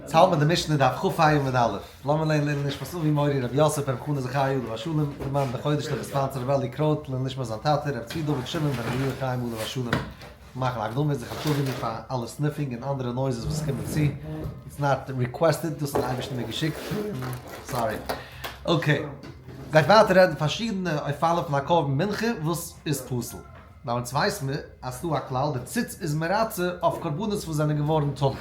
צו האבן די משנה דף כ א עמוד א', לאמיר לענ ד לערנען נשמת אבי מורי רבי יוסף בן חנה זכריה עליו השלום, דערמאנט די חודש ט' חשוון צו רבי אלי' קרויט לעילוי נשמת זיין טאטע רבי צבי דוד שמעון בן רבי יואל חיים עליו השלום, מאכן הקדמות זיך אנטשולדיגן פאר אלע סניפינג און אנדערע נויזעס וואס קומען צו, איטס נאט ריקוועסטעד דאס האט די אייבערשטער מיר געשיקט, סארי. אקעי. גייט ווייטער רעדן פארשידענע אויפאלן פון הקרבן מנחה וואס איז פסול. ביי אונז ווייסט מען אז ס'דא א כלל, דער ציץ איז מרצה אויף קרבנות וואס זענען געווארן טמא. דער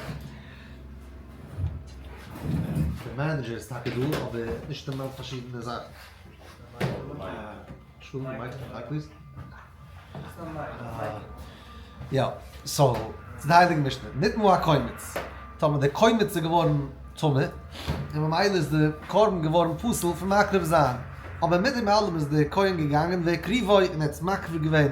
מענעדזשער איז טאקע דא, אבער ער האט נישט אין מיינד פארשידענע זאכן. טמא, און ממילא איז די קרבן געווארן פסול פון מקריב זיין, אבער מיט דעם אלעם איז דער כהן געגאנגען והקריבו און ער האט עס מקריב געווען,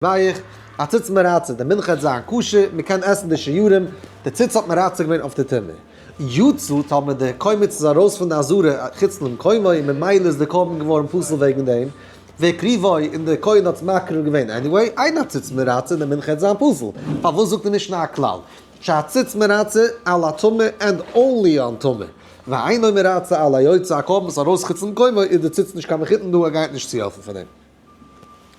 ווייך, א ציץ מרצה, די מנחה האט זיין כשר, מען קען עסן די שיעורים, די ציץ האט מרצה געווען אויף די טומאה, יצא טמא, דער קומץ איז ארויס פון די אזהרה חוץ למקומו, און ממילא איז די קרבן געווארן פסול וועגן דעם, והקריבו און דער כהן האט עס מקריב געווען עניוועי, אין א ציץ מרצה, די מנחה האט זיין פסול, פארוואס זאגט די משנה א כלל? שהציץ מרצה על הטמא ענד אנלי אן טמא, ואינו מרצה על היוצא הקרבן סאו ארויס חוץ למקומו איז די ציץ נישט קיין מחותן דא ער גייט נישט צוהעלפן פאר דעם.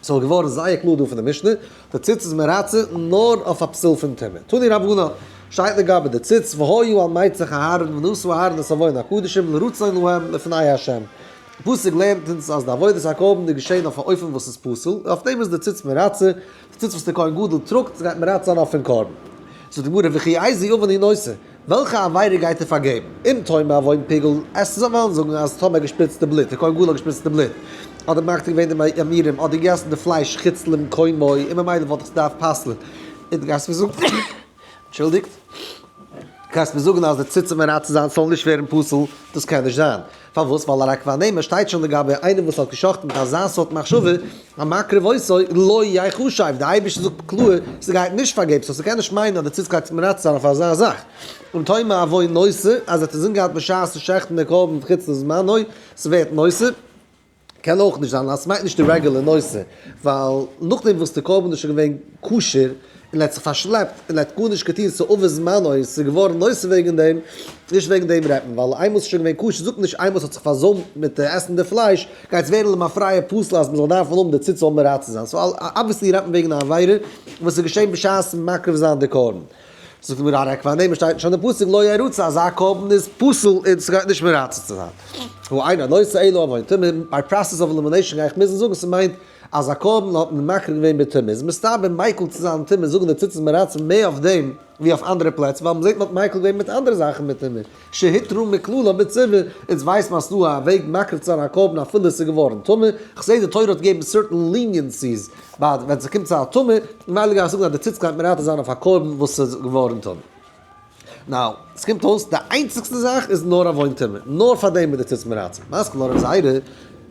סאו געווארן זייער קלאר דא פון די משנה, די ציץ איז מרצה נאר אויף א פסול פון טומאה. תני רבנן, שטייט לגבי די ציץ, והיו על מצח אהרן ונשאו אהרן את אביון הקדשים לרצון להם לפני ה'. די פסוק לערנט אונז אז די עבודת הקרבן איז געשען אויף א אופן וואס איז פסול, און אויף דעם איז די ציץ מרצה, ציץ וואס דער כהן גדול טראגט גייט מען רייצן אן אפען קרבן. זאגט די גמרא וכי איזי אבן היא נושא, וועלכע עבירה גייט ער פארגעבן? אם טועם מעווין פיגול, עס זאל וועלן זאגן אז טאמער געשפריצט די בלוט, דער כהן גדול האט געשפריצט די בלוט, אדער מקטיר געווען די ימירים, אדער געגעסן די פלייש חוץ למקומו, אין ממילא וואלט עס געדארפט פסל'ן, איז די גמרא זאגט. אנטשולדיגט, קענסט מיר זאגן אז די ציצים און רייצן זיינס זאלן נישט ווערן פסול? דאס קען נישט זיין. פארוואס? ווייל א רק ואנמה שטייט שוין לגבי איינעם וואס האט גע'שחט'ט מיט אזא סארט מחשבה, המקריב עשו לא יחשב, די אייבערשטער זאגט קלאר, ס'גייט נישט פארגעבן, סאו ס'קען נישט מיינען אז די ציץ גייט זיך מרצה זיין אויף אזא זאך. און תאמר אבוי נושא, אז ער האט עס אינגעהאלטן בשעת'ן שעכטן די קרבן חוץ לזמנו, ס'ווערט נושא. קען אויך נישט זיין אז עס מיינט נישט די רעגולער נושא, ווייל נאכדעם וואס די קרבן איז שוין געווען כשר און ער האט זיך פארשלעפט און ער האט גארנישט געטון ס'איז עבר זמנו און ס'איז געווארן נושא וועגן דעם, נישט וועגן דעם רעדט מען, ווייל איינמאל ס'איז שוין געווען כשר זאגט מען נישט איינמאל ס'האט זיך פארזוימט מיט עסן די פלייש גייט עס ווערן למפרע פסול אז מען זאל דארפן האבן די ציצו אויף מראה צו זיין, סאו אבוויעסלי רעדט מען וועגן א עבירה וואס איז געשען בשעת מקריב זיין די קרבן. זאגט די גמרא ריק פאר דעם שטייט נישט אין די פסוק לא ירוצה אזא קרבן איז פסול און סגייט נישט מרצה צו זיין הוא אינו הנושא אלא אבותיו מיט ביי פראסעס אוו עלימינעישאן גיי איך מוזן זאגן ס'מיינט אז א קרבן האט מען מקריב געווען בתמי' איז מסתבר מיקל צו זיין תמי' זאגן די תוס' מרצה מער אויף דעם ווי אויף אנדערע פלעצער ווייל מ'זעט מ'האט מיקל געווען מיט אנדערע זאכן בתמי' שהיתרו מקללה בציבור, אונז ווייסט מען אז ס'דא א וועג מקריב צו זיין א קרבן אפילו ס'איז געווארן טמא, כ'זעה די תורה האט געגעבן סערטען ליניענסיס ביי ווען ס'קומט צו א טמא, ממילא גיי איך זאגן אז די ציץ גייט מרתח זיין אויף א קרבן וואס איז געווארן טמא. נאו, ס'קומט אויס די איינציגסטע זאך איז נאר עוון טומאה, נאר פאר דעם איז די ציץ מרתח, מסכים לרב זיידא.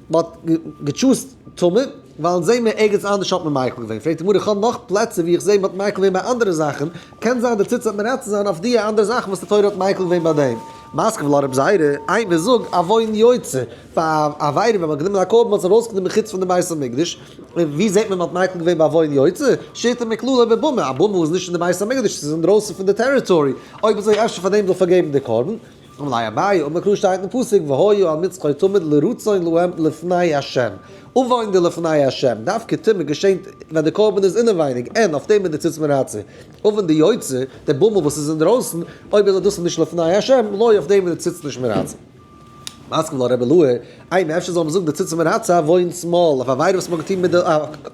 מען האט געטשוזט טעמע, ווייל זעה מיר ערגעץ אנדערש האט מען מייקל געווען, פרעגט די גמרא איך האב נאך פלעצער ווי איך זעה מען האט מייקל געווען ביי אנדערע זאכן, קען זיין דער ציץ האט מרצה זיין אויף דיע אנדערע זאכן וואס די תורה האט מייקל געווען ביי דעם. מסקווע לארב זייערע, איינער זאג א וואוין יוצא פאר א עבירה ווען מען האט גענומען א קרבן האט עס ארויס גענומען מחוץ פון די בית המקדש, און ווי זעט מען מען האט מייקל געווען ביי וואוין יוצא, שיטה מקללה איבער במה, א במה וואס איז נישט אין די בית המקדש, עס איז אינדרויסן פון די טעריטארי, אויב אזוי אפשר פאר דעם זאל פארגעבן די קרבן. אמר ליה אביי, אמר קרא שטייט אין פסוק והיה על מצחו תמיד לרצון להם לפני ה', אויפוויינען די לפני ה', דווקא תמיד געשענט ווען די קרבן איז אינעווייניג, אין אויף דעם איז די ציץ מרצה, אויפן די יוצא, די בומל וואס איז אינדרויסן, אויב איז דאס נישט לפני ה', לוי אויף דעם איז די ציץ נישט מרצה. מסכ ל רב אלוה, איי נו אפשר זאל מען זאגן די ציץ מרצה אויף וואוינס מאל, אויף א עבירה וואס מען האט געטון מיט די,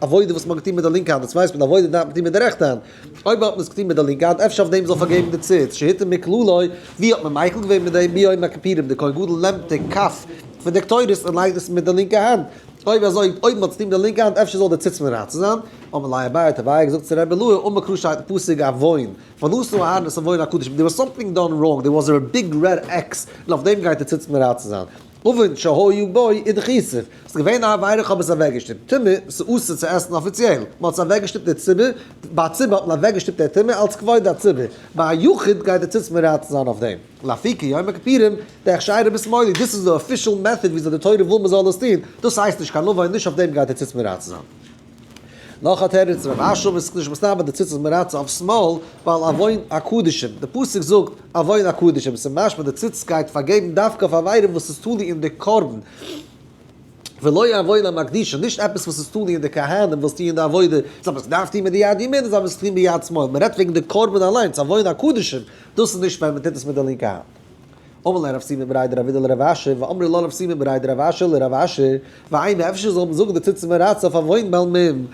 עבודה וואס מען האט געטון מיט די לינקע האנט, דאס ווייסט מען די עבודה דארף מען טון מיט די רעכטע האנט, אויב האט מען עס געטון מיט די לינקע האנט אפשר אויף דעם זאל פארגעבן די ציץ שהיתר מכלולא, ווי האט מען מייכל געווען מיט דעם ביום הכפירים די כהן גדול נעמט די כף פון די קטורת און לייגט עס מיט די לינקע האנט, אויב אזוי אויב מען האט עס געטון מיט די לינקע האנט אפשר זאל די ציץ מרצה זיין, אמר ליה אביי טביה האט געזאגט צו רבי לוי אמר קרא שטייט אין פסוק עוון ונשא אהרן את עוון הקדוש, דער וואס סאמטינג דאן ראנג דער וואס דער ביג רעד עקס און אויף דעם גייט די ציץ מרצה זיין. אבן שהיו בו איד כיסוף, ס'איז געווען א עבירה כ'האב עס אוועקגעשטופט, טומאה, ס'אסור צו עסן אפיציעל, מ'האט עס אוועקגעשטופט דער ציבור, ביי א ציבור האט מען אוועקגעשטופט דער טומאה אלץ כבוד הציבור, ביי א יחיד גייט דער ציץ מרוצה זיין אויף דעם, לפי כיום הכפירים, דער הכשר רבי שמאולי, דאס איז די אפישעל מעטאד וויאזוי די תורה וויל מ'זאל עס טון, דאס הייסט נישט קיין עוון, נישט אויף דעם גייט דער ציץ מרוצה זיין. נאך א תירוץ רב אשר וואס איז נישט מסתבר די ציצית מרצה אויף שמאל, ווייל עוון הקדשים, די פסוק זאגט עוון הקדשים, ס'איז משמע די ציצית גייט פארגעבן דווקא אויף עבירה וואס איז תלוי אין די קרבן, ולא עוון המקדישין, נישט עפעס וואס איז תלוי אין די כהנים וואס טוען די עבודה, זיי האבן עס געדארפט טון מיט די יד ימין און זיי האבן עס געטון ביד שמאל, מ'רעדט וועגן די קרבן אליינס, עוון הקדשים, דאס איז נישט ווען מ'טוט עס מיט די לינקע האנט. אמר לרב סימען בראי דרב אידא לרב אשר, ואמרי לרב סימען בראי דרב אשר לרב אשר, ואיי מען אפשר זאל מען זאגן די תוצאה מרצה אויף א וואוין בעל מום,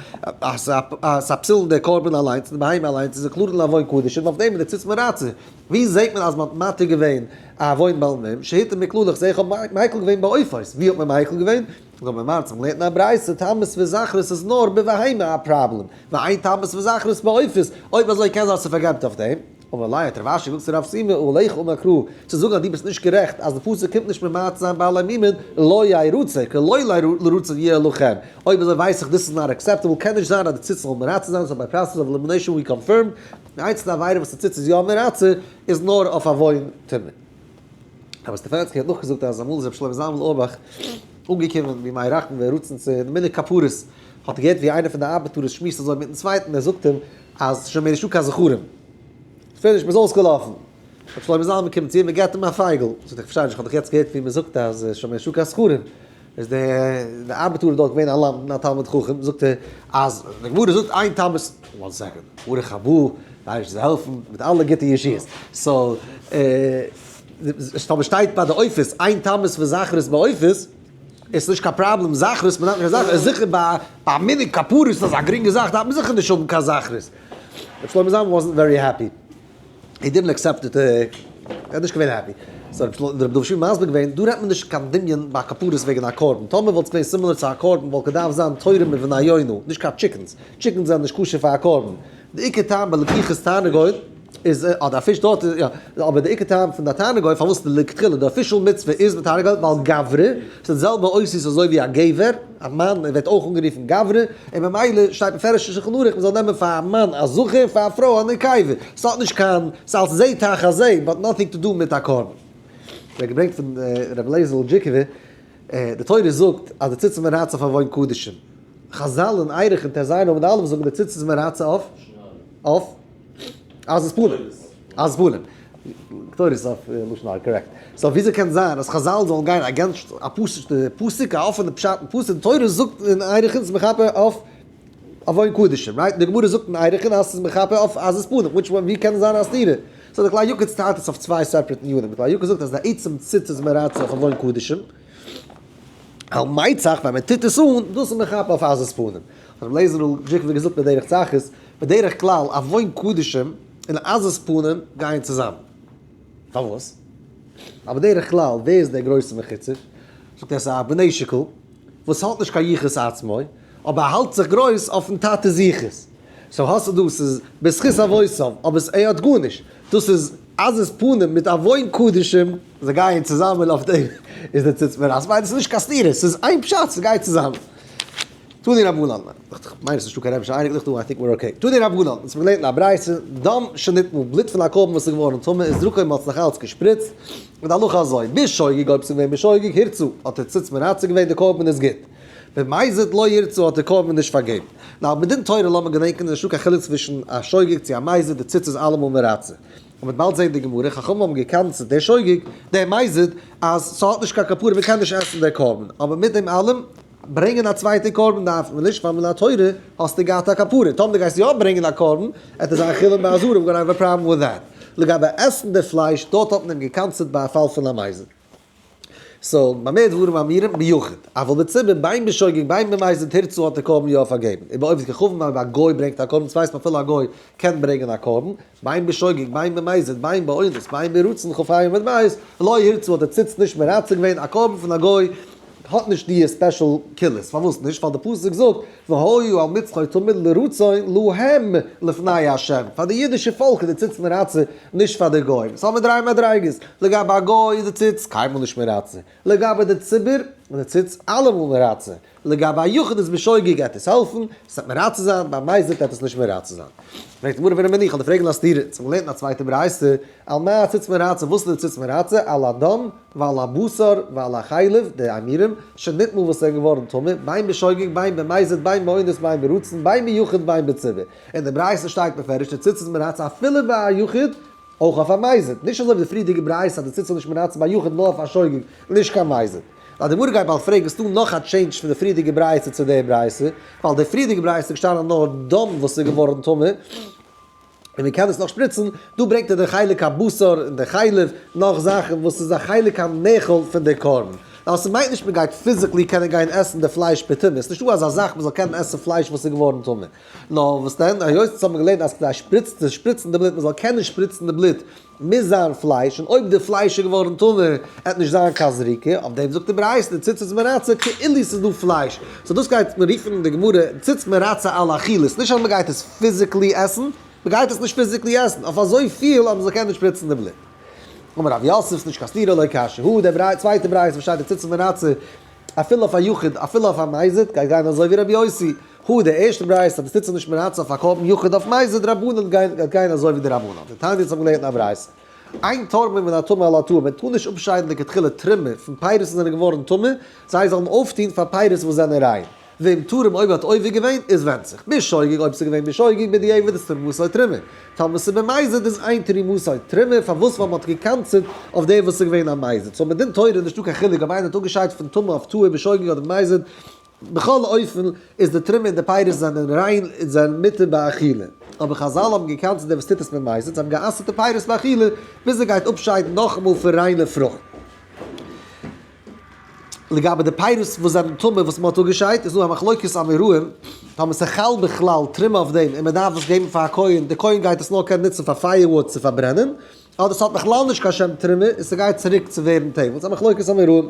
אז אז א פסול'ן דער קרבן אליינס און די בהמה אליינס איז עקלארן א וואוין קדשים און אויף דעם איז די תוצאה מרצה. ווי זעט מען אז מען האט מתיר געווען א וואוין בעל מום, שהיתר מכלול איך זע איך האב מיקל געווען בעופות, ווי האט מען מיקל געווען? זאל מען מארצן מען לערנט אין א ברייתא טמאות וזכרות איז נאר בבהמה א פראבלעם, ועיין טמאות וזכרות בעופות, אויב אזוי קען זיין אז ס'פארגעבט אויף דעם. אבער אולי האט רב אשר געזאגט צו רב סימא אהל איך אומר קרא, צו זאגן אז דו ביסט נישט גערעכט אז די פסוק קומט נישט ממעט זיין בעלי מימון לא יהא רצוי כי לא לרצון יהא אלא כן, אויב אזוי ווייס איך דאס איז נאט עקסעפטעבל קען נישט זיין אז די ציצית זאל מרצה זיין סאו ביי פראסעס אוו עלימינעישאן ווי קאנפירמד די איינציגסטע עבירה וואס די ציצית איז יא מרצה איז נאר אויף עוון תמיד. רבי סטפאנצקי האט נאכגעזאגט אז אמאל איז רבי שלמה זלמן אוירבאך אנגעקומען ווי מי ירחם ווי רצון צו די מנהג כפרות, האט ער געהערט ווי איינער פון די ארבעטאר עס שמועסט אזוי מיטן צווייטן, ער זאגט אים אז שוין מער נישטא קיין זכרים, פיניש מען איז אויסגעלאפן, רבי שלמה זלמן קומט צו אים און געבט אים א פייגל, זאגט ער איך פארשטיי נישט איך האב דאך יעצט געהערט ווי מען זאגט אז שוין מער נישטא קיין זכרים. איז דער דער ארבעטאר דארט געווען א למדן א תלמיד חכם, זאגט ער אז די גמרא זאגט איין תמוז, וואן סעקאנד, ברוך הבא, ווייסט וואס זיי העלפן מיט אלע גוטע ישועות, סאו טאמער שטייט ביי די עופות איין תמוז פון זכרות ביי עופות, איז עס נישט קיין פראבלעם זכרות, מען דארף נישט קיין זכרות, זיכער ביי ביי מנהג כפרות איז עס א גרינגע זאך דארף מען זיכער נישט האבן קיין זכרות, ר' שלמה זלמן וואזנט ווערי העפי. הי דידנט אקסעפט איט, ער האט נישט געווען העפי. סאו האט רבי דוד שפירא מסביר געווען, דא רעדט מען נישט קיין דמיון ביי כפרות וועגן א קרבן, טאמער וואלט עס געווען סימילער צו א קרבן וואלט געדארפט זיין תורה מבנינו, נישט קיין טשיקענס, טשיקענס זענען נישט כשר פאר א קרבן, די עיקר טעם ביי לקיחת תענוגות איז, אה די פיש דארט איז יא, אבער די עיקר טעם פון די תענוגות פארוואס לכתחילה די אפישעל מצוה איז מיט תענוגות ווייל גברי, ס'איז די זעלבע עושר אזוי ווי א גבר. א מאן און ווערט אויך אנגערופן גברא, און ממילא שטייט מפורש אין שלחן ערוך מ'זאל נעמען פאר א מאן א זכר און פאר א פרוי א נקבה, ס'האט נישט קיין, ס'איז אלס זה תחת זה, באט נאטינג טו דו מיט א קרבן. ווערט געברענגט פון ר' אליעזר'ל דזשיקובער, די תורה זאגט אז די ציצית מרצה פאר וואוין קדשים, חזל אין ערוך אין ט ז עמוד א' זאגן די ציצית מרצה אויף אויף. אז עס פולען אז פולען קטורת איז אויף לשון הרע קארעקט סאו וויאזוי קען זיין אז חזל זאלן גיין אגענסט א פשוטע פסוק א אפענע פשט אין פסוק די תורה זאגט אין ערכין ס'איז מכפר אויף עוון קדשים רייט און די גמרא זאגט אין ערכין אז ס'איז מכפר אויף אז עס פולען וויטש וואן ווי קען זיין א סתירה סאו די כלל יוקרת'ס טיילט עס אויף צוויי סעפערעט עניינים די כלל יוקרת'ס זאגט אז די עצם ציץ איז מרצה אויף עוון קדשים על מי צח ווען מען טוט עס אן דאס איז מכפר אויף אז עס פולען ר' לייזער'ל זיכער ווי געזאגט בדרך צחות בדרך כלל ארון קדשים און עזות פנים גייען צוזאמען. פארוואס? ווייל בדרך כלל ווער איז דער גרויסער מחוצף? זאגט ער ס'איז א בני שיקול וואס האט נישט קיין יחוס עצמו, אבער ער האלט זיך גרויס אויפן טאטע'ס יחוס. סאו האסטו דא ס'איז בזכות אבותם, אבער ער האט גארנישט. דאס איז עזות פנים מיט ארון קדשים. זיי גייען צוזאמען אויף דעם איז דער ציץ מרס. ווייל עס איז נישט קיין סתירה, ס'איז איין פשט ס'גייט צוזאמען. טוה דיר א וואל אלט מאן, דאכט זיך כ'מיין עס איז נישטא קיין רעבישע אייניקל איך טוה איי טינק מיר אקעי, טוה דיר א וואל אלט, אונז האבן געלערנט אין א ברייתא, דם שנטמא, בלוט פון א קרבן וואס איז געווארן טמא איז דרכו מ'האט זיך אלץ געשפריצט, און די הלכה אזוי, בשוגג אויב ס'איז געווען בשוגג הירצו האט דער צוץ מרצה געווען די קרבן איז גוט, במזיד לא ירצו האט דער קרבן נישט פארגעבן, נאר בדין תורה לאמיר געדענקען איז נישטא קיין חילוק צווישן א שוגג צו א מזיד די צוץ איז אלעמאל מרצה, און מ'וועט באלד זען די גמרא, חכמים האבן געקנסעט דער שוגג, דער מזיד, אז ס'האט נישט קיין כפרה מ'קען נישט עסן דער קרבן, אבער מיט דעם אלעם. ברענגען א צווייטע קרבן דארף מען נישט פאר מן התורה האסטו געהאט א כפרה, טאמער די גייסט יא ברענגען א קרבן עט עס זיין חולין ביי אזור אוו גאנא האוו א פראבלעם וויט דעט, לגבי עסן די פלייש דארט האט מען אים געקנסעט ביי א פאל פון א מייזל, סאו במה דברים אמורים ביחוד, אבל בציבור ביים בשוגג ביים במייזלט הירצו האט די קרבן יא פארגעבן, איבער אויב איז געכוואונען אויב א גוי ברענגט א קרבן סווייסט מען אפילו א גוי קען ברענגען א קרבן, ביים בשוגג, ביים במזיד, ביים באונס, ביים ברצון חפים ודמעות, לא ירצו האט דער ציץ נישט מרצה געווען, א קרבן פון א גוי האט נישט דיע ספעשל כולות, פארוואס נישט? ווייל די פסוק זאגט, והיו על מצחו תמיד לרצון להם לפני ה', פאר די אידישע פאלק איז דער ציץ מרצה, נישט פאר די גוים, ס'האמיר דריי מדריגות, לגבי א גוי איז די ציץ קיינמאל נישט מרצה, לגבי די ציבור, די ציץ אלע מאל מרצה, לגבי א יחיד איז בשוגג גייט עס העלפן, עס וועט מרצה זיין, ביי מייז וועט עפעס נישט מרצה זיין. פרעגט די גמרא ווען א מניח, כ'וועל דיר פרעגן א סתירה, צו מ'לערנט אין א צווייטע ברייתא, על מה הציץ מרצה, וואס איז די ציץ מרצה, על הדם ועל הבשר ועל החלב, די עמירם, שנטמא וואס איז געווארן טמא, בין בשוגג בין במייזד בין באונס בין ברצון בין ביחיד בין בציבור, אין די ברייתא שטייט מפרש די ציץ איז מרצה אפילו ביי א יחיד, אויך אויף א מייזעט, נישט אזוי ווי די פריערדיגע ברייתא אז די ציץ זאל נישט מנצל ביי יחיד נאר אויף א שוגג, נישט קיין מייזעט. לויט די מרדכי בעל פראג איז דא נאך א טשעינדזש פון די פריערדיגע ברייתא צו די ברייתא, ווייל די פריערדיגע ברייתא איז געשטאנען נאר דם וואס איז געווארן טמא, און מען קען עס נאך שפריצן, דא ברענגט ער די חלק הבשר און די חלב, נאך זאכן וואס איז א חלק הנאכל פון די קרבן. ווייל ס'מיינט נישט מען גייט פיזיקלי קענען גיין עסן די פלייש פער טומאה, ס'נישטא אזא זאך מען זאל קענען עסן פלייש וואס איז געווארן טמא. נאר וואס דען, היות אונז האבן געלערנט אז כדי שפריצן שפריצן די בלוט, מען זאל קענען שפריצן די בלוט, מוז זיין פלייש, און אויב די פלייש איז געווארן טמא, וועט נישט זיין קיין זריקה, אויף דעם זאגט די ברייתא, די ציצית מרצה כאילו ס'איז דא פלייש, סאו דאס גייט מען רופן אין די גמרא ציצית מרצה על אכילת, נישט אז מען גייט עס פיזיקלי עסן, מען גייט עס נישט פיזיקלי עסן, אויף אזויפיל אז מען זאל קענען שפריצן די בלוט. אמר רב יוסף ס'נישט קיין סתירה לא קשיא הוא, די צווייטע ברייתא וואס שטייט די ציצית מרצה אפילו אויף א יחיד אפילו אויף א מזיד, גייט גיין אזוי ווי רבי יוסי, הא, די ערשטע ברייתא וואס טוט זיך נישט מרצון פארקויפן יחוד אויף מייז איז דרבנן גייט גיין אזוי ווי די רבנן, די תענית האבן געלערנט א ברייתא עיין תורמים מן הטומאה אל הטהור מען טאר נישט אפשיידן די כתחלה תרומה פון פירות וואס זענען געווארן טמא, זיי זאלן אויפטון פאר פירות וואס זענען ריין, ואם תורם אויב האט עובר געווען איז ווענדט זיך בשוגג אויב עס איז געווען בשוגג בדיעבד איז תרמוסו תרומה, טאמער עס איז במזיד איז עיין תרימוסו תרומה פארוואס ווייל מען האט געקנס'ט אויף דעם וואס איז געווען א מזיד, סאו מדין תורה איז נישטא קיין חילוק אויב איינער האט אפגעשיידט פון טמא אויף טהור בשוגג אדער במזיד, בכל אופן איז די תרומה און די פירות זענען ריין און זענען מותר באכילה, אבער חזל האבן געקאנט צו דער וואס טוט עס מיט מייסד, זיי האבן גע'אסר'ט די פירות באכילה ביז ער גייט אפשיידן נאכאמאל פון ריינע פרוכט. לגבי די פירות וואס זענען טמא וואס מען האט אפגעשיידט איז דא א מחלוקת אמוראים טאמער ס'חל בכלל תרומה אויף דעם און מען דארף דאס געבן פאר א כהן, דער כהן גייט עס נאר קענען נוצן פאר פייער וואוד צו פארברענען, אדער ס'האט בכלל נישט קיין שם תרומה און ס'גייט צוריק צו ווערן טעם, ס'איז א מחלוקת אמוראים.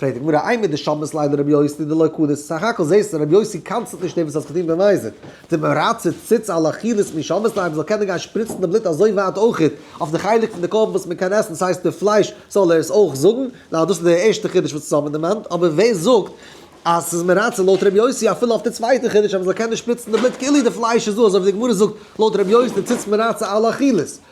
פרעגט די גמרא, איי מיט די שבת ליינער רבי יוסי דלא קדש? סך הכל זעסטו רבי יוסי קאנצלט נישט דעם וואס האסט געטון במזיד, די מרצה ציץ על אכילת מי שבת ליינער זאל קענען גיין שפריצן די בלוט אזוי ווייט אויכעט אויף די חלק פון די קרבן וואס מען קען עסן ס'הייסט די פלייש זאל ער עס אויך זאגן, ניין דאס איז די ערשטע חידוש וואס אונז האבן דערמאנט, אבער ווער זאגט אז ס'איז מרצה לויט רבי יוסי אפילו אויף די צווייטע חידוש אז מען זאל קענען שפריצן די בלוט כאילו די פלייש איז דא אזוי ווי די גמרא זאגט לויט רבי יוסי ציץ מרצה על אכילת.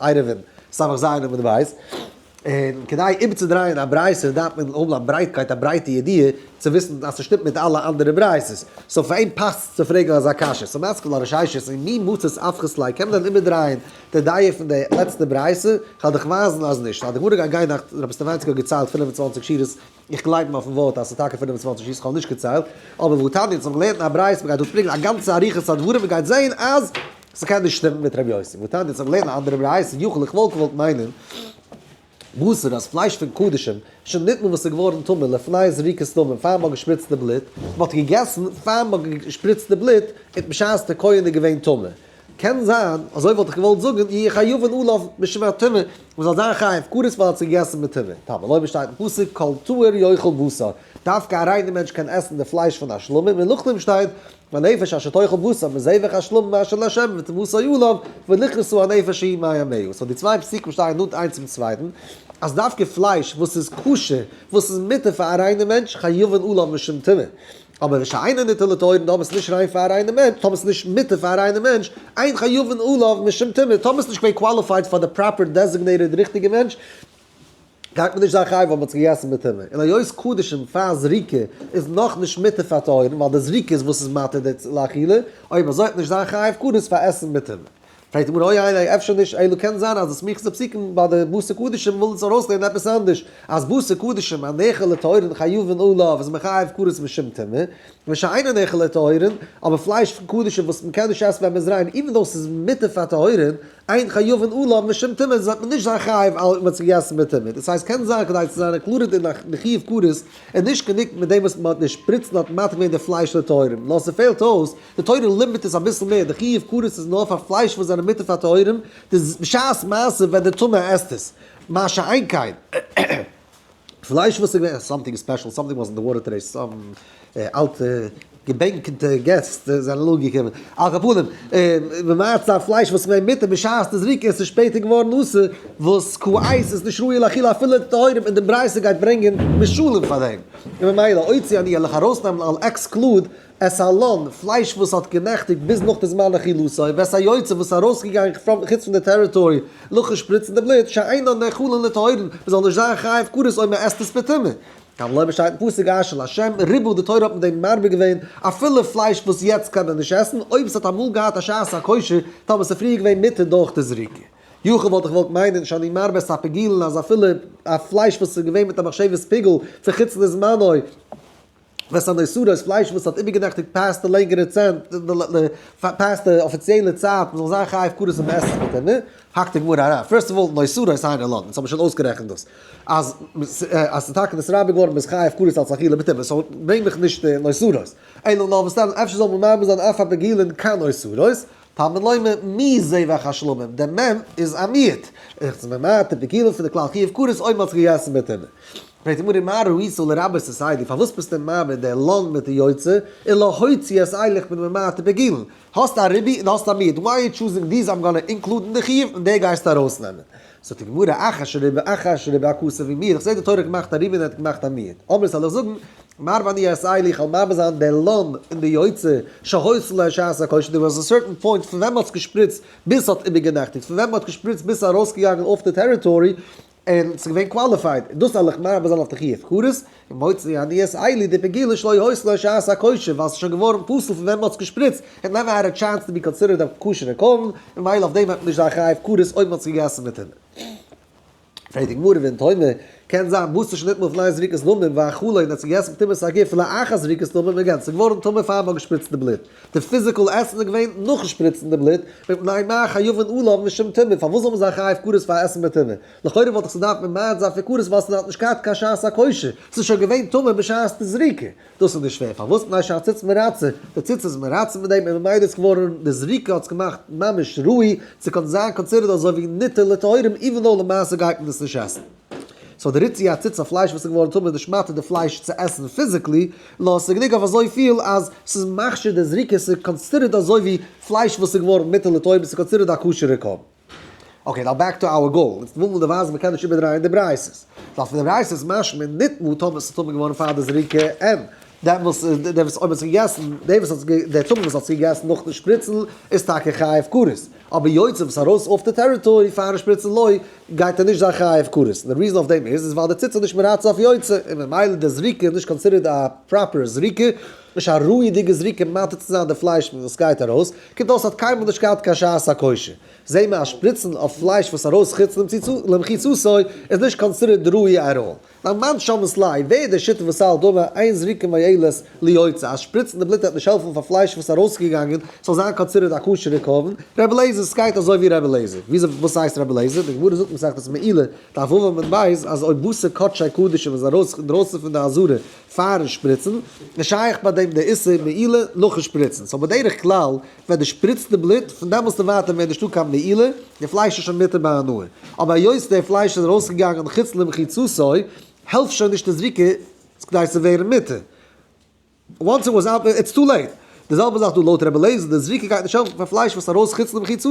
עירובין, סמך ז' עמוד ו', און כדי איבערצודרייען א ברייתא דארף מען האבן א ברייטקייט א ברייטע ידיעה צו וויסן אז ס'שטימט מיט אלע אנדערע ברייתות, סאו פאר אים פאסט צו פרעגן אזא קשיא, סאו מיינסט כלל הששת אין מי מצות אפכת ליה קען מען דען איבערדרייען די דיעה פון די לעצטע ברייתא? כ'על דיך ווייזן אז נישט, אז די גמרא גייט גיין נאך רבי סטעוואנסקי האט געציילט פֿינף און צוואַנציק שורות, איך גלייב אים אויפן ווארט אז ס'איז טאקע פֿינף און צוואַנציק יאר, ס'כאמען נישט געציילט, אבער וואו תניא אונז האבן געלערנט אין א ברייתא מ'גייט דארט ברענגען א גאנצע אריכות הדברים מ'גייט זעהן אז ס'קען נישט שטימען מיט רבי יוסי, וואו תניא אונז האבן געלערנט אין א אנדערע ברייתא יחול איך וואלט געוואלט מיינען בשר אז פלייש פון קדשים שוין ניטמאל וואס איז געווארן טמא לפני זריקת דמים פאר מ'האט געשפריצט די בלוט, מ'האט געגעסן פאר מ'האט געשפריצט די בלוט און בשעת די כהן איז געווען טמא. קען זיין, אזוי וואלט איך געוואלט זאגן, יהיו חיובן עליו משום הטומאה, מען זאל זיין חייב כרת ווייל ער האט זיך געגעסן מיט טומאה, טעמא, לויט ווי שטייט אין פסוק כל טהור יאכל בשר, דווקא א ריינער מענטש קען עסן די פלייש פון א שלמים, און נאכדעם שטייט והנפש אשר תאכל בשר מזבח השלמים אשר לה' ותמסור עליו ולכרסו הנפש ההיא מי ימיהו, סאו די צוויי פסוקים שטייען נאנט איינס צום צווייטן, אז דווקא פלייש וואס איז כשר, וואס איז מותר פאר א ריינער מענטש, חיובן עליו משום טומאה. אבער ווי שיינע ניטע לטהורין טאמער ס'נישט ריין פאר א ריינע מענטש, טאמער ס'איז נישט מותר פאר א ריינע מענטש, אין חיובן עליו משום טומאה, טאמער ס'נישט געווען קוואליפייד פאר די פראפער דעזיגנעיטעד ריכטיגע מענטש, גייט מען נישט זיין חייב ווייל מ'האט עס געגעסן בטומאה, און היות קדשים פאר זריקה איז נאך נישט מותר פאר טהורין ווייל די זריקה איז וואס איז מתיר די לאכילה, אויב אזוי האט מען נישט זיין חייב כרת פאר עסן בטומאה. פרעגט די גמרא אוי איי איי אפשר נישט אלא קען זיין אז די סמיכות די פסוקים ביי די בשר קדשים וויל אונז ארויסלערנען עפעס אנדערש אז בשר קדשים א נעכר לטהרין חיובן עליו איז מחייב כרת משום טומאה ווי שאינו נעכר לטהרין אבער פלייש פון קדשים וואס מ'קען נישט עסן ווען מ'איז ריין איבן דאס איז מותר פאר טהרין איין חיובן עליו משום טומאה וועט מען נישט זיין חייב על מ'האט עס געגעסן מיט טומאה דאס הייסט קען זיין כדי צו זיין ערקלארעט אין א חיוב כרת און נישט גענוג מיט דעם וואס מען האט נישט פריצן האט מטריד געווען די פלייש פון די טהורים, נאר ס'פעלט אויס, די תורה לימיט עס אביסל מער, די חיוב כרת איז נאר פאר פלייש וואס זענען מותר פאר טהורים, די ז בשעת מעשה ווען די טמא עסט עס, מה שאין כן פלייש וואס איז געווען סאמטינג ספעשל סאמטינג וואס אין די וואטער טודעי סאם אלטע. געבענקטע געסט זענען אנגעקומען, על כל פנים, און מצה פלייש וואס מען מיטה בשעת די זריקה, עס איז שפעטער געווארן אסור, וואס כ ע איז עס נישט ראוי לאכילה אפילו די טהורים, און די ברייתא גייט ברענגען משלים פאר דעם, און ממילא הוציא אני עליך ארויסנעמען אל עקסקלוד את הלן, פלייש וואס האט גענעכטיגט ביז נאך די זמן אכילתו, ואת היוצא וואס איז ארויסגעגאנגען פון חוץ פון די טעריטארי נאכן שפריצן די בלוט, שאינן נאכלין לטהורין, מען זאל נישט זיין חייב כרת אויב מען עסט עס בטומאה. טאמער לויט באשטייטן פסוק אש אל השם ריבו די תורה האט מיט דעם מרבה געווען אפילו פלייש וואס יעצט קען מען נישט עסן אויב עס האט אמאל געהאט א שעת הכושר טאמער עס איז פריער געווען מותר דורך די זריקה יחו' וואלט איך געוואלט מיינען נישט אני מרבה עס א פגילן אז אפילו א פלייש וואס איז געווען מיט א מחשבת פיגול צו חוץ לזמנו וואס אן איסור אויס פלייש וואס האט איבערגענעכטיגט פאסט די לענגערע צענט פאסט די אפיציעלע צייט מען זאל זיין חייב כרת און מעסס מיט אים. האקט די גמרא אריין, פירסט אוו אלל, נאו סורא איז היינט ערלאבט, אונז האבן שוין אויסגערעכנט דאס אז אז ס'איז טאקע נאסרא' געווארן ביז חי הפקרות אלס אכילה בטבע, סאו ברענג מיך נישט נאו סורא'ס, אלא נאר מסתם אפשר זאל מען מרבה זיין אויף א בגילן קיין נאו סורא'ס, תלמוד לומר מי זה ואיך השלמים, דער מ' איז א מיעוט, איך זיך ממעט בגילן פון די כלל חי הפקרות אויב מען האט זיך געגעסן בטבע. פרעגט די גמרא מה ראיתו לרבות את סיידי, פארוואס ביסטו מרבה דער לאנד מיט די יוצא, און לא הוציאו את איילך מן ממעט בגילן, האסט א רבי און האסט א מיעוט, וויי יו טשוזינג דיז איים גאנא אינקלודן די חיוב און די גייסטו ארויסנעמען. זאגט די גמרא אח אשר רבי אח אשר רבי א קאסע ווי מיר, איך זעה די תורה האט געמאכט א רבי און ער האט געמאכט א מיעוט, אמער זאל איך זאגן מר ואני אעשה לי איך וועל מאבד זיין די לאם און די יוצר שהוציא לה שעת הכושר דער וואס סערטען פוינט פון ווען מען האט געשפריצט ביז ס'האט איבערגענעכטיגט פון ווען מען האט געשפריצט ביז ס'איז ארויסגעגאנגען אויף די טעריטארי און ס'איז געווען קוואליפייד, און דאס א לחמי אבער זיין אויף תחי' הפקרות, און מוצרי אני את עלי די פגילה שלא הועסלה שעת הכושר ווייל ס'איז שוין געווארן פסול פון ווען מ'האט עס געשפריצט, און נעווער העד א טשענס טו בי קאנסידערעד א כשר'ע קרבן, און מילא אויף דעם וועט מען נישט זיין חייב פקרות אויב מ'האט עס געגעסן מיט אים. פרעגט די גמרא ואין טעימה, קען זיין מוז נישט ניטמאל פון איין זריקת דמים ואכלו און ער האט עס געגעסן בתמימות א גוף לאחר זריקת דמים און גענצליך געווארן טמא פאר מ'האט געשפריצט די בלוט. די פיזיקעל עסן איז געווען נאכן שפריצן די בלוט, מפני מה חיובן עליו משום טומאה, פארוואס זאל מען זיין חייב כרת פאר עסן בטומאה? לכאורה וואלט דאך צו דארפן ממעט זיין פון כרת ווייל עס האט נישט געהאט קיין שעת הכושר, עס איז שוין געווען טמא בשעת די זריקה. דאס איז נישט פעיר, פארוואס? מפני שהציץ מרצה, די ציץ איז מרצה מיט דעם און ממילא איז כעוורן די זריקה האט עס געמאכט ממש ראוי צו קענען זיין קאנסידערד אזוי ווי ניטל לטהורים, איווען דאו למעשה גייט מען עס נישט עסן. סאו די ריציא א ציץ א פלייש וואס איז געווארן טמא נישט מותר די פלייש צו עסן פיזיקלי, נאר ס'איז גענוג אויף אזויפיל אז ס'איז מכשיר די זריקה און ס'איז קאנסידערט אזוי ווי פלייש וואס איז געווארן מותר לטעים און ס'איז קאנסידערט א כשר'ע קרבן. אקעי נאו בעק טו אווער גאול, אונז ווילן באווייזן מ'קען נישט איבערדרייען די בריית'ס, ווייל פון די בריית'ס איז משמע נטמא טמא ס'איז טמא געווארן פאר די זריקה און דער וואס דער וואס אויב האט זיך געגעסן דער וואס האט דער טמא וואס האט זיך געגעסן נאכן שפריצן איז טאקע חייב כרת אבער יוצא וואס ארויס אויף די טעריטארי פארן שפריצן לוי גייט ער נישט זיין חייב הפקרות, און די ריזען אויף דעם איז איז ווייל די ציץ איז נישט מרצה אויף יוצא, און ממילא איז די זריקה איז נישט קאנסידערט א פראפער זריקה, נישט א ראוי'דיגע זריקה מאתר צו זיין די פלייש פון וואס סגייט ארויס, קומט אויס ס'האט קיינמאל נישט געהאט קיין שעת הכושר, זעה מען אז שפריצן אויף פלייש וואס ארויס חוץ למחיצתו איז נישט קאנסידערט ראוי עט אלל. מיין מאן שאמעס ליי, ווער איז דער שוטה וואס סאל דבר אין זריקה מייעלת ליוצא, אז שפריצן די בלוט וועט נישט העלפן פאר פלייש וואס איז ארויסגעגאנגען ס'זאל זיין קאנסידערט א כשר'ע קרבן, רבי אליעזר סגייט אזוי ווי רבי אליעזר, וויאזוי וואס הייסט רבי אליעזר, די גמרא זאגט מסכת מעילה דף ו' עמוד ב' אז אויב בשר קדשי קדשים איז ארויס אינדרויסן פון די אזהרה פארן שפריצן, איז שייך ביי דעם די איסור מעילה נאכן שפריצן, סאו בדרך כלל ווען דו שפריצט די בלוט, פון דעמאלסט און ווייטער מער נישטא קיין מעילה, די פלייש איז שוין מותר בהנאה. אבער היות די פלייש איז ארויסגעגאנגען חוץ למחיצתו, העלפט שוין נישט די זריקה כדי צו ווערן מותר. וואנס איט וואס אוט, איטס טו לעיט. די זעלבע זאך דא לויט רבי אליעזר, די זריקה גייט נישט העלפן פאר פלייש וואס איז ארויס חוץ למחיצתו.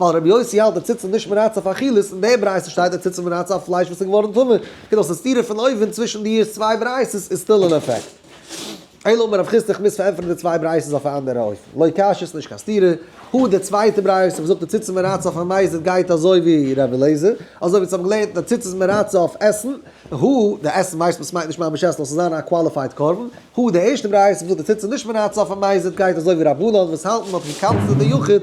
ווייל רבי יוסי האלט די ציצית נישט מרצה אויף אכילת, אין די ברייתא שטייט די ציצית מרצה אויף פלייש וואס איז געווארן טמא, קומט אויס די סתירה פון אויבן צווישן די צוויי ברייתות איז סטיל אין אפעקט. אלא מאי רב חיסדא כ'מוז פארענטפערן די צוויי ברייתות אויף א אנדערע אופן, לא קשיא ס'נישט קיין סתירה, הוא די צווייטע ברייתא וואס זאגט די ציצית מרצה אויף א מזיד גייט אזוי ווי רבי אליעזר, אזוי ווי אונז האבן געלערנט די ציצית מרצה אויף עסן, הוא די עסן ווייסט מען ס'מיינט נישט ממש עסן נאר ס'זיין א קוואליפייד קרבן, הוא די ערשטע ברייתא וואס זאגט די ציצית נישט מרצה אויף א מזיד גייט אזוי ווי רבנן וואס האלטן מ'האט געקאנצלט די יחיד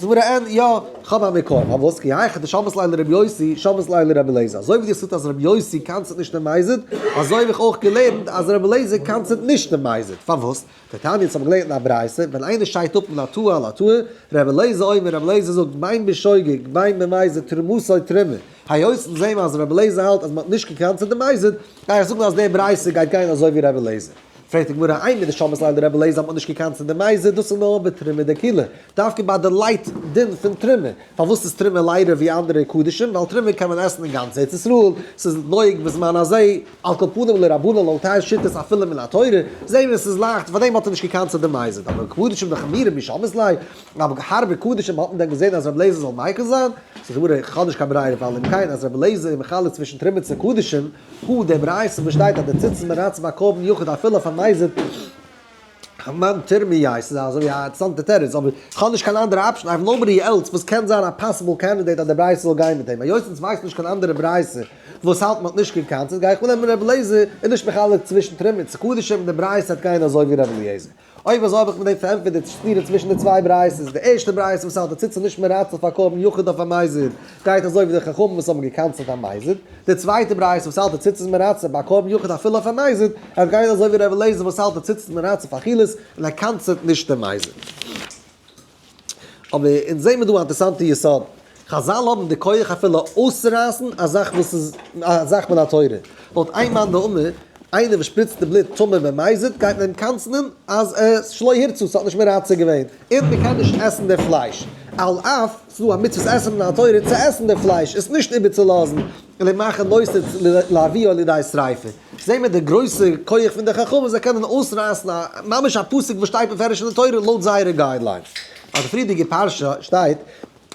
זמרה ן, יא, כ'האב א מקור, פארוואס קי הייך די שבת ליינער רבי יוסי, שבת ליינער רבי אליעזר? אזוי ווי די זאגסט אז רבי יוסי קאנצעט נישט דעם מייזעד, אזוי האב איך אויך געלערנט אז רבי אליעזר קאנצעט נישט דעם מייזעד, פארוואס? די תניא האט געלערנט אין א ברייתא, ווען איינער שטייט אפ מן התאוה אל התאוה, רבי אליעזר אומר, רבי אליעזר זאגט, בין בשוגג, בין במייזעד, תרומתו תרומה, היות אונז זעהן אז רבי אליעזר האלט אז מ'האט נישט געקאנצעט דעם מייזעד, גיי איך זאגן אז די ברייתא גייט גיין אזוי ווי רבי אליעזר. פרעגט די גמרא איינער די שבת לילה די רבי לעז האט מען נישט געקאנט צו די מייזע דאס איז נאר בתרומה דקילה דווקא ביי די לייט דין פון תרומה פארוואס איז תרומה ליידער ווי אנדערע קדישים ווייל תרומה קען מען עסן אין גאנץ ארץ ישראל ס'איז נוהג בזמן הזה על כל פנים לרבנן על תי' שיטות אפילו מן התורה זעהן מיר ס'איז לייכט פאר דעם האט ער נישט געקאנט צו די מייזע אבער קדישים דאך חמירא משבת לילה אבער הארבע קדישים האט מען דען געזעהן אז רבי לעזער זאל מיקל זיין? זאגט די גמרא כ'האב נישט קיין ברירה ווייל אם כן אז רבי לעזער איז מחלק צווישן תרומה צו קדישים חו דעם רייסער וואס שטייט אז די ציצית מרעצ ביי קרבן יחיד אפילו אויף א מייזער כמען תרמי י, ס'איז אזוי ווי א אינטערסאנטע תירוץ אבער כ'האב נישט קיין אנדערע אפשען, איי האוו נאובאדי עלס וואס קען זיין א פאסיבל קענדידעיט אז די ברייתא זאל גיין מיט דעם, היות אונז ווייסן נישט קיין אנדערע ברייתא וואס האלט מ'האט נישט קיין קאנצעט גיי איך אננעמען ר' אליעזר איז נישט מחלק צווישן תרמי י צו קדשים און די ברייתא וועט גיין אזוי ווי ר' אליעזר. אויב אזוי האב איך מיט דעם פארענטפערט די סתירה צווישן די צוויי ברייתות. די ערשטע ברייתא וואס האלט אז ציץ איז נישט מרצה פאר קרבן יחיד אויף א מזיד, גייט אזוי ווי די חכמים וואס האבן געקענסלט א מזיד. די צווייטע ברייתא וואס האלט אז ציץ איז מרצה ביי קרבן יחיד אפילו אויף א מזיד, עס גייט אזוי ווי ר' אליעזר וואס האלט אז ציץ איז מרצה פאר אכילת און ער קענסלט נישט די מזיד. אבער אונז זעהן מיר דא א אינטערסאנטע יסוד, חזל האבן די כח אפילו אויסצורייסן א זאך וואס איז א זאך מן התורה, לויט איין מאן דאמר, איינער וואס שפריצט די בלוט טמא במזיד גייט מען אים קנס'נען אז עס שלא ירצו, עס האט נישט מרצה געווען, און מען קען נישט עסן די פלייש, על אף עס איז דא א מצוות עשה מן התורה צו עסן די פלייש, עס נישט איבערצולאזן, און אים מאכן נושא לאביו על ידי שריפה. זעהן מיר די גרויסע כח פון די חכמים זיי קענען אויסרייסן א ממש א פסוק וואס שטייט מפורש אין די תורה לויט זייערע גיידליינס. אויף די פריערדיגע פרשה שטייט,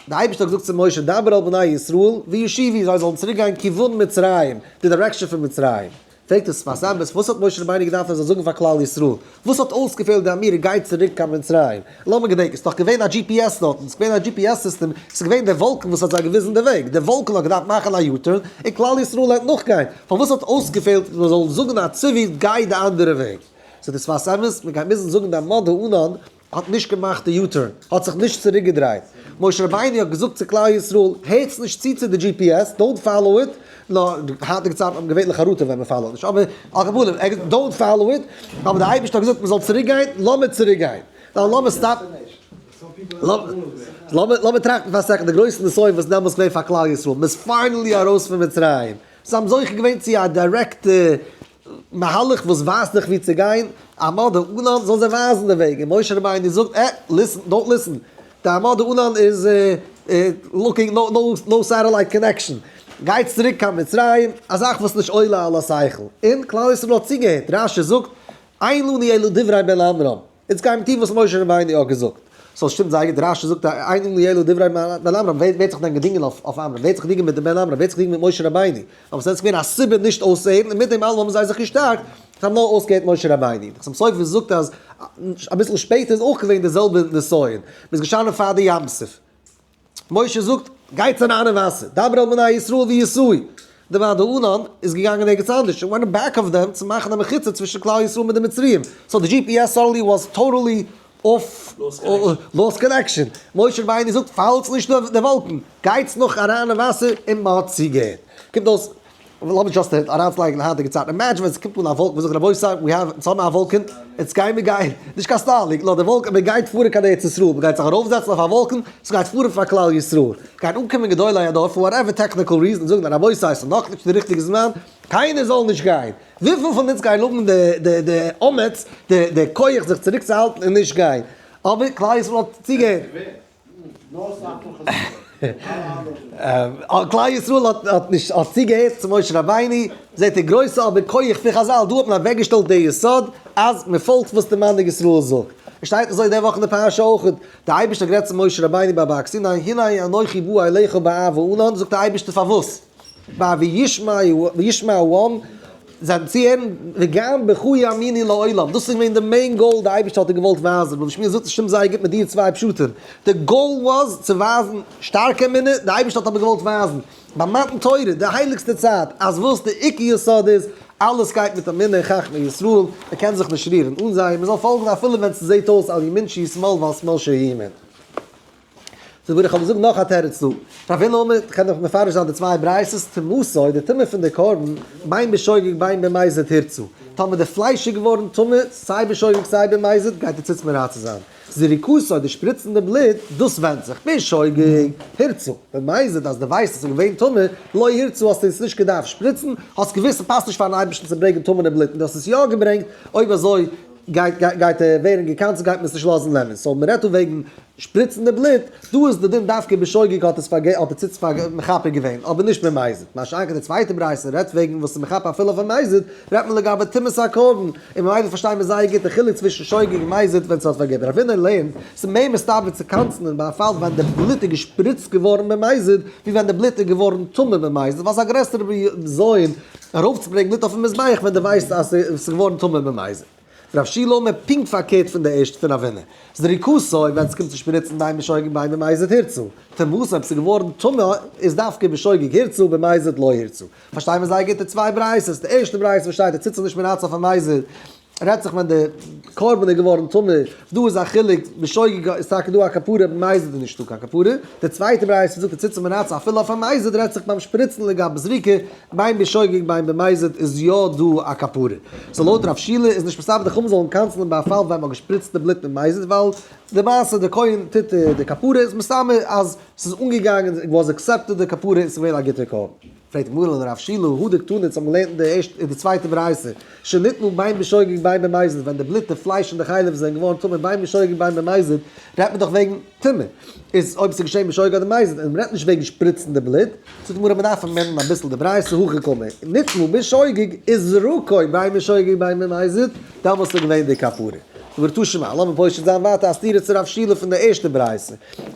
די אייבערשטער האט געזאגט צו משה דבר אל בני ישראל וישיבי זיי זאלן צוריק גיין כיוון מצרים, די דירעקשאן פון מצרים. פרעגט עס פאר סאמעס וואס האט משה רבינו געדארפט ער זאל זאגן פאר כלל ישראל? וואס האט אויסגעפעלט ווען מיר גייט צוריק קיין מצרים? לאמיר געדענקען, ס'דאך געווען א דזשי פי עס דארטן, ס'געווען א דזשי פי עס סיסטעם, ס'געווען דער וואלקן וואס האט זיי געוויזן די וועג, דער וואלקן האט געדארפט מאכן א יו-טורן, און כלל ישראל האט נאכגיין, פארוואס האט אויסגעפעלט מען זאל זאגן א צבי גיי די אנדערע וועג? איז דאס פאר סעוויס? מען גייט מוזן זאגן די עמוד הענן האט נישט געמאכט די יו-טורן, האט זיך נישט צוריק געדרייט, משה רבינו האט געזאגט צו כלל ישראל, הערטס נישט צו צו די דזשי פי עס, דאונט פאלאו איט, נאר די היינטיגע צייטן האבן געווענליך א ראטע ווען מען פאלאוט נישט, אבער על כל פנים ער געזאגט דאונט פאלאו איט, אבער די אייבערשטער האט געזאגט מען זאל צוריק גיין, לאמיר צוריק גיין, ניין לאמיר סטאפ, לאמיר לאמיר טראכטן פאר א סעקאנד די גרויסע נסיון וואס איז דעמאלטס געווען פאר כלל ישראל, מען איז פיינעלי ארויס פון מצרים, זיי האבן זוכה געווען צו א דירעקטע מהלך וואס ווייזט דיך ווי צו גיין, עמא דאנן זאל זיי ווייזן די וועג, און משה רבינו זאגט, אה, ליסן, דאנט ליסן, די עמא דאנן איז לוקינג, נאו נאו נאו סעטעלייט קאנעקשאן, גייטס צוריק קיין מצרים, א זאך וואס נישט עולה על השכל, און כלל ישראל האט צוגעהערט, רשי זאגט, אין לנו אלא דברי בלעם רם. איצט גיי מיר טון וואס משה רבינו האט געזאגט. ס'זאל שטימט זייער גוט, רשי זאגט א עינים ליעלו דברי בן עמרם, ווער וועט זיך דען געדינגען אויף עמרם, ווער וועט זיך דינגען מיט די בן עמרם, ווער וועט זיך דינגען מיט משה רבינו, אבער ס'ווען געווען א סיבה נישט אויסצוהערן, און מיט דעם אלעם האבן זיי זיך געשטארקט, זיי האבן נאר אויסגעהערט משה רבינו. נחום סופר זאגט אז אביסל שפעטער איז אויך געווען די זעלבע נסיון, מ'איז געשטאנען פאר די ים סוף, משה זאגט, גיי צו ריינע וואסער, דבר אל בני ישראל ויסעוה. די ועד הארון איז געגאנגען ערגעץ אנדערש, און ווען בעק אוו דעם, צו מאכן א מחיצה צווישן כלל ישראל מיט די מצריים. סאו די דזשי פי עס סאדענלי וואס טאטעלי אףף לאז קאנעקשען. משה רבינו זאגט, פאלטס נישט די וואלקן, גייטס נאך א ריינע וואסער און מען האט צוגעהערט. קומט אויס אבער לאמיר דזשאסט אהער אריינצולייגן היינטיגע צייטן, אימעדזשין ווען ס'קומט אן א וואלקן, זאגן רבותי ווי האוו, אונז האבן א וואלקן, יעצט גייען מיר גיין, נישט קיין סטארלינק, נאר די וואלקן, מען גייט פארן קיין ארץ ישראל, מען גייט זיך ארויפזעצן אויף א וואלקן, ס'גייט פארן פאר כלל ישראל, גייען אנקומען גדולי הדור, פאר וואטעווער טעקניקל ריזען, זאגן רבותי ס'איז נאכנישט די ריכטיגע זמן, קיינער זאל נישט גיין, וויפיל פון אונז גייען האבן די די די אומץ, די די כח זיך צוריקצוהאלטן און נישט גיין, אבער כלל ישראל האט צוגעהערט. כלל ישראל האט נישט האט צוגעהערט צו משה רבינו, זעט איר גרויסע אבן כח פון חזל, דא האט מען אוועקגעשטעלט די יסוד אז מען פאלגט וואס די מנהיג ישראל זאגט, עס שטייט אזוי די וואך אין די פרשה אויך, די אייבערשטער האט גערעדט צו משה רבינו ביי בארג סיני, הנה אנכי בא אליך באהבה, און און זאגט די אייבערשטער פארוואס? ביי וישמעו העם זיי צו הערן, וגם בך יאמינו לעולם, דאס איז געווען די מעין גאול, די אייבערשטער האט דיר געוואלט ווייזן, וואס שמואל זאגט שטימט זייער גוט מיט דיע צוויי פשטים, די גאול וואס צו ווייזן שטארקע אמונה, די אייבערשטער האט אבער געוואלט ווייזן ביי מתן תורה די הייליגסטע צייט, אז וואס די עיקר יסוד איז, אלעס גייט מיט אמונה אין חכמי ישראל, מען קען זיך נישט רירן אן זיי, מען זאל פאלגן אפילו ווען ס'זעט אויס על ימין שישמאל ועל שמאל שימין. זאג מיר איך האב געזאגט נאך א תירוץ דא, פאר ווען נאר מען קען דאך מפרש זיין די צוויי בריית'עס טומאתו איז די טומאה פון די קרבן בין בשוגג בין במזיד הירצו, טאמער די פלייש איז געווארן טמא סיי בשוגג סיי במזיד גייט די ציץ מרצה זיין, זריקתו די שפריצן די בלוט דאס ווענדט זיך בשוגג הירצו, במזיד אז די ווייסט אז עס איז געווען טמא לא ירצו האסטו עס נישט געדארפט שפריצן, האסט געוואוסט ס'פאסט נישט פארן אייבערשטן צו ברענגען טמא'נע בלוט און דו האסט עס יא געברענגט, אויב אזוי. גייט גייט ער ווערן געקאנסעלט גייט מען עס נישט לאזן לערנען סאו מ'רעדט דא וועגן שפריצן די בלוט דא איז די דין דווקא בשוגג האט עס פארגע האט ער צוץ פאר מחפה געווען אבער נישט ממזד מה שאין כן די צווייטע ברייתא רעדט וועגן וואס איז מחפה אפילו אויף א מזד רעדט מען לגבי טומאת הקרבן און ממילא פארשטיי מיר זייער גוט די חילוק צווישן שוגג און מזד ווען ס'האט פארגע דער אבינר לערנט ס'איז מער מסתבר צו קאנסלען ביי א פאל ווען די בלוט איז געשפריצט געווארן ממזד ווי ווען די בלוט איז געווארן טמא ממזד ווייל ס'איז א גרעסערע בזיון ארויפצוברענגן מיט אויפן מזבח ווען די ווייסט אז ס'איז געווארן טמא ביים אייזן. רב שי' לאמר פונקט פארקערט פון די ערשטע פון אבינו, זריקתו ווען ס'קומט צו שפריצן דיין בשוגג ביי דעם אייזן הירצו, טמאות אויב ס'איז געווארן טמא איז דווקא בשוגג הירצו ביים אייזן לא הירצו, פארשטיי מיר זייער גוט די צוויי ברייתות, די ערשטע ברייתא וואס שטייט ער ציט זיך נישט מרצון פארן אייזן, רעדט זיך ווען די קרבן איז געווארן טמא, דא איז א חילוק, בשוגג איז טאקע דא א כפרה, במזיד איז נישטא קיין כפרה, די צווייטע ברייתא וואס זאגט די ציצית מנצח אפילו אויף א מזיד רעדט זיך ביים שפריצן לגבי זריקה, ביים בשוגג ביים במזיד איז יא דא א כפרה, סאו לויט רב שילער איז נישט מסתבר די חמ ד זאלן קענסלען ביי א פאל ווען מען האט געשפריצט די בלוט מיט מזיד ווייל די מעשה די כהן טוט די כפרה איז מסתמא אז ס'איז אנגעגאנגען איט וואס עקסעפטעד די כפרה און ס'איז געווען א גוטע קרבן. פרעגט הגמרא און הרב שילא, הא דקתני צו האבן געלערנט אין די ערשטע און די צווייטע ברייתא, שניתנו ביין בשוגג ביין במזיד, ווען די בלוט, די פלייש און די חלב זענען געווארן טמא ביין בשוגג ביין במזיד, רעדט מען דאך וועגן טומאה, איז אויב ס'איז געשען בשוגג אדער מזיד, און מ'רעדט נישט וועגן שפריצן די בלוט. זאגט די גמרא מ'דארף אמענדן אביסל די ברייתא, הכי קמא, ניתנו בשוגג איז זרקו ביין בשוגג ביין במזיד, דאמאלס איז געווען די כפרה. זאגט די גמרא תשמע, לאמיר פושט זיין ווייטער א סתירה צו רב שילא פון די ערשטע ברייתא,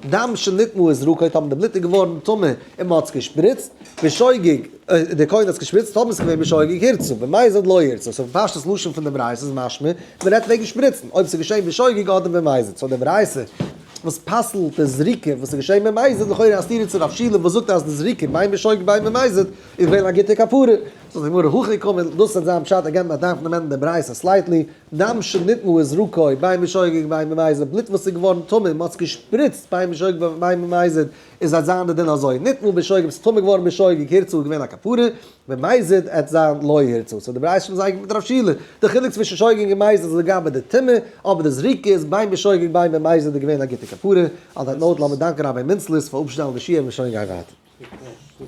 דם שניתנו איז זרקו, טאמער די בלוט איז געווארן טמא, און מען האט עס געשפריצט בשוגג, דער כהן האט עס געשפריצט האט מען עס געווען בשוגג הירצו במאי זית לא ירצו, סאו פון פשטות לשון פון דעם רייסער איז משמע מען רעדט וועגן שפריצן אויב עס איז געשען בשוגג אדער במאי זית, סאו דעם רייסער וואס פסל'ט די זריקה וואס איז געשען במאי זית לכאורה א סתירה צו רב שילה וואס זאגט אז די זריקה בין בשוגג בין במאי זית איז געווען א גוטע כפרה. זאגט די גמרא הכי קמא, דאס וועט זיין פשט אגענד מען דארף נעמען דעם רייסער סלייטלי, דם שנתנו איז רוקוי בין בשוגג בין במאי זית בלוט וואס איז געווארן טמא און מען האט עס געשפריצט בין בשוגג בין במאי זית איז אט זיין די דין אזוי, ניתנו בשוגג ביסט טמא געווארן בשוגג הירצו איז געווען א כפרה, ממזיד עט זיין לא הירצו, סאו די בראית שליט א איז אייגנטליך מיט רב שילער, די חילוק צווישן שוגג און געמייזעט איז לגבי די טומאה, אבער די זריקה איז ביין בשוגג ביין ממזיד איז געווען א גוטע כפרה, אן דעט נאוט לאמיר דאנקען רבי מינצליס פאר אפשטעלן די שיעור און שוין גיין ווייטער.